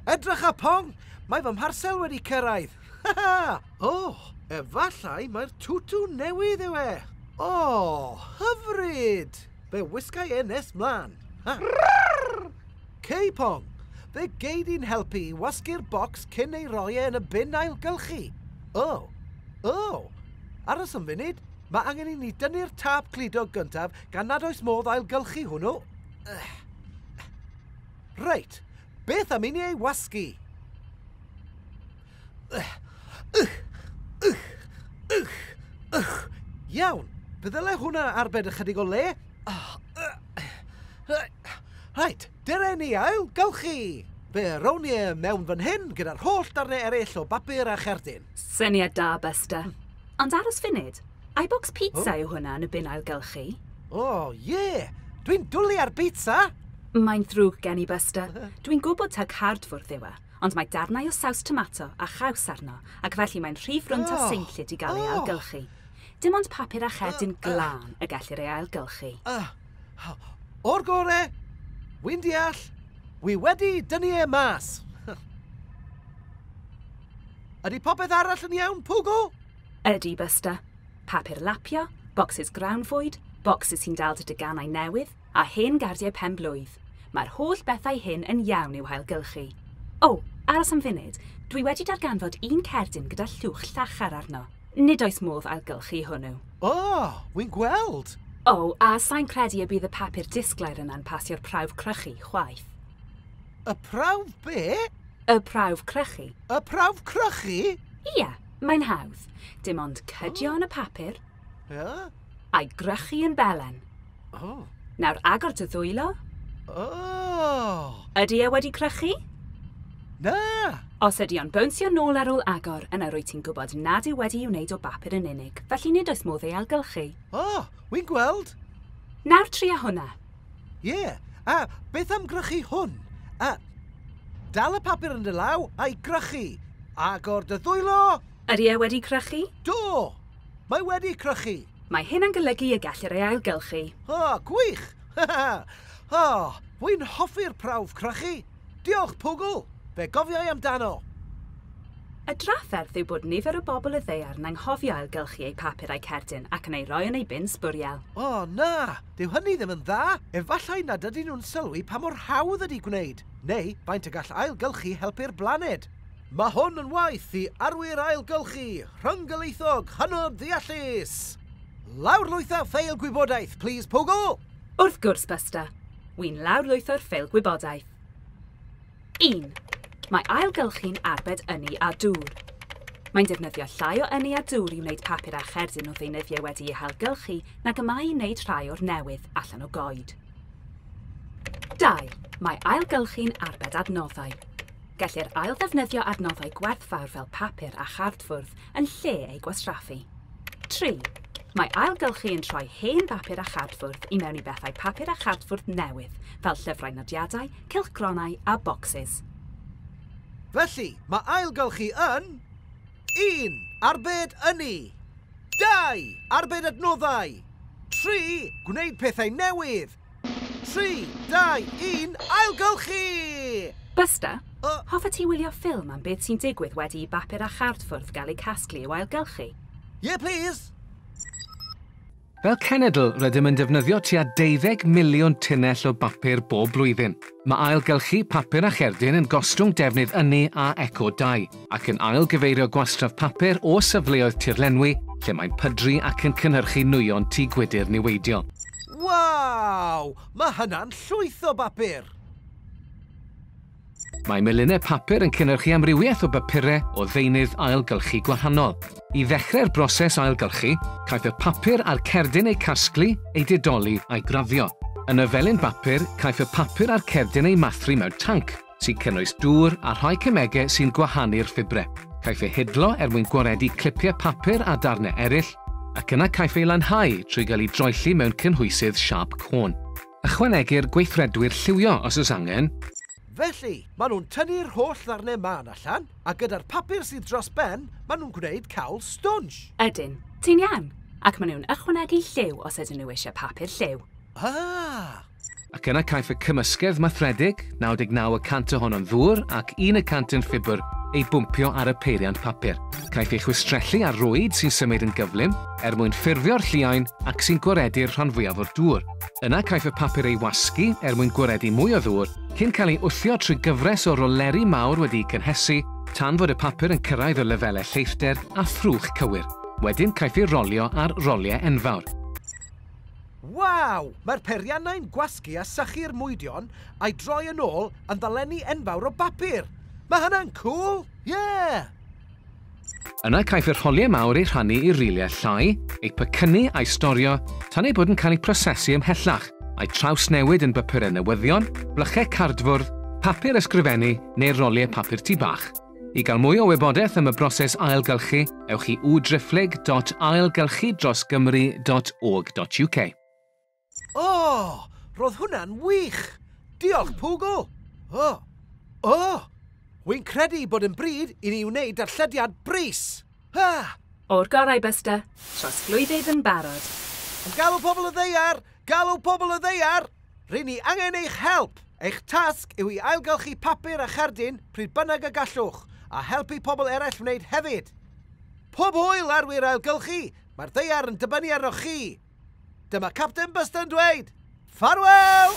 Edrych a Pong! Mae fy mharsel wedi cyrraedd! O! Efallai mai'r twtw newydd yw e! O! Hyfryd! Fe wisgai e nes mlan! Cei Pong! Fe gei di'n helpu i wasgu'r bocs cyn ei roi e yn y bin ailgylchu! O! O! Aros am funud, mae angen i ni dynnu'r tâp cludo gyntaf gan nad oes modd ailgylchu hwnnw! Reit, beth am i ni ei wasgu? Iawn, pe ddyle hwnna arbed ychydig o le. Rhaid, dere ni ail, gawch chi! Fe rown ni e mewn fan hyn gyda'r holl darnau eraill o bapur a cherdyn. Syniad da, Buster. Ond aros funud, iBox Pizza yw hwnna yn y bin ailgylchu. O, ie! Dwi'n dwli ar bîtsa! Mae'n ddrwg gen i, Buster. Dwi'n gwybod taw cardfwrdd yw e, ond mae darnau o saws tomato a chaws arno ac felly mae'n rhy frwnt a seinllyd i gael ei ailgylchu. Dim ond papur a cherdyn glân y gellir ei ailgylchu. O'r gore! Wi'n deall. Wi wedi dynnu e mas. Ydy popeth arall yn iawn, Pogo? Ydy, Buster. Papur lapio, bocsys grawnfwyd, bocsys sy'n dal dy deganau newydd, a hen gardiau pen-blwydd. Mae'r holl bethau hyn yn iawn i'w hailgylchu. O, aros am funud, dwi wedi darganfod un cerdyn gyda llwch llachar arno. Nid oes modd ailgylchu hwnnw. O, wi'n gweld! O, a sai'n credu y bydd y papur disglair yna'n pasio'r prawf crychu, chwaith. Y prawf be? Y prawf crychu. Y prawf crychu? Ia, mae'n hawdd. Dim ond cydio yn y papur. Ia? A'i grychu yn belen. O. Nawr agor dy ddwylo. O. Ydy e wedi crychu? Na! Os ydy o'n bownsio nôl ar ôl agor, yna rwy ti'n gwybod nad yw wedi ei wneud o bapur yn unig, felly nid oes modd ei ailgylchu. O, wy'n gweld. Nawr tria hwnna. Ie, a beth am gwrychu hwn? A, dal y papur yn dy law a'i gwrychu. Agor dy ddwylo! Ydy e wedi crychu? Do! Mae wedi crychu! Mae hyn yn golygu y gellir ei ailgylchu. O, gwych! Ha ha! O, wi'n hoffi'r prawf crychu! Diolch, Pwgl! Fe gofiai amdano! Y drafferth yw bod nifer o bobl y ddaear yn anghofio ailgylchu eu papur a'u cerdyn ac yn ei roi yn eu bin sbwriel. O, na! Dyw hynny ddim yn dda! Efallai nad ydyn nhw'n sylwi pa mor hawdd ydy gwneud, neu faint y gall ailgylchu helpu'r blaned. Mae hwn yn waith i arwyr ailgylchu rhyng-gylaethog hynod ddeallus! Lawrlwytha ffeil gwybodaeth, plis, Pwgl! Wrth gwrs, Buster! Wi'n lawrlwytho'r ffeil gwybodaeth. 1. Mae ailgylchu'n arbed ynni a dŵr. Mae'n defnyddio llai o ynni a dŵr i wneud papur a cherdyn o ddeunyddiau wedi'u hailgylchu nag y mae i wneud rhai o'r newydd allan o goed. 2. Mae ailgylchu'n arbed adnoddau. Gellir ailddefnyddio adnoddau gwerthfawr fel papur a chardfwrdd yn lle eu gwastraffu. 3. Mae ailgylchu yn troi hen bapur a chardfwrdd i mewn i bethau papur a chardfwrdd newydd, fel llyfrau nodiadau, cylchgronau a bocsys. Felly, mae ailgylchu yn... 1. Arbed ynni 2. Arbed adnoddau 3. Gwneud pethau newydd 3, 2, 1, ailgylchu! Buster, hoffet ti wylio ffilm am beth sy'n digwydd wedi i bapur a chardfwrdd gael eu casglu i'w ailgylchu? Ie, plîs! Fel cenedl, rydym yn defnyddio tua deuddeg miliwn tunnell o bapur bob blwyddyn. Mae ailgylchu papur a cherdyn yn gostwng defnydd ynni a eco-dai, ac yn ail-gyfeirio gwastraff papur o safleoedd tirlenwi lle mae'n pydru ac yn cynhyrchu nwyon tŷ gwydr niweidiol. Waw! Mae hynna'n llwyth o bapur! Mae melinau papur yn cynhyrchu amrywiaeth o bapurau o ddeunydd ailgylchu gwahanol. I ddechrau'r broses ailgylchu, caiff y papur a'r cerdyn eu casglu, eu didoli a'u graddio. Yn y felin bapur, caiff y papur a'r cerdyn eu mathru mewn tanc, sy'n cynnwys dŵr a rhai cemegau sy'n gwahanu'r ffibrau. Caiff eu hidlo er mwyn gwaredu clipiau papur a darnau eraill, ac yna caiff eu lanhau trwy gael eu droelli mewn cynhwysydd siâp côn. Ychwanegir gweithredwyr lliwio os oes angen. Felly, maen nhw'n tynnu'r holl ddarnau mân allan, a gyda'r papur sydd dros ben, maen nhw'n gwneud cawl stwnsh! Ydyn, ti'n iawn. Ac maen nhw'n ychwanegu lliw os ydyn nhw eisiau papur lliw. Ah! Ac yna caiff y cymysgedd mathredig, 99 y cant ohono'n ddŵr ac un y cant yn ffibr, ei bwmpio ar y peiriant papur. Caiff ei chwistrellu ar rwyd sy'n symud yn gyflym er mwyn ffurfio'r lliain ac sy'n gwaredu'r rhan fwyaf o'r dŵr. Yna caiff y papur ei wasgu er mwyn gwaredu mwy o ddŵr, cyn cael ei wthio trwy gyfres o roleri mawr wedi'u cynhesu tan fod y papur yn cyrraedd y lefelau lleithder a thrwch cywir. Wedyn caiff ei rolio ar roliau enfawr. Waw! Mae'r peiriannau'n gwasgu a sychu'r mwydion a'i droi yn ôl yn ddolenni enfawr o bapur! Mae hynna'n cŵl! Ie! Yna caiff yr holiau mawr eu rhannu i riliau llai, eu pecynnu a'u storio tan eu bod yn cael eu prosesu ymhellach, a'u trawsnewid yn bapurau newyddion, blychau cardfwrdd, papur ysgrifennu neu roliau papur tŷ bach. I gael mwy o wybodaeth am y broses ailgylchu, ewch i www.driphlyg dot ailgylchu dros gymru dot org dot uk. O! Ro'dd hwnna'n wych! Diolch, Pŵgl! O! O! Wi'n credu bod yn bryd i ni wneud darllediad brys! Ha! O'r gorau, Buster. Trosglwyddydd yn barod. Am galw pobl y ddaear! Galw pobl y ddaear! Ry'n ni angen eich help! Eich tasg yw i ailgylchu papur a cherdyn pryd bynnag y gallwch, a helpu pobl eraill wneud hefyd! Pob hwyl ar wir ailgylchu, mae'r ddaear yn dibynnu arnoch chi! Dyma Capten Buster yn dweud, Ffarwel!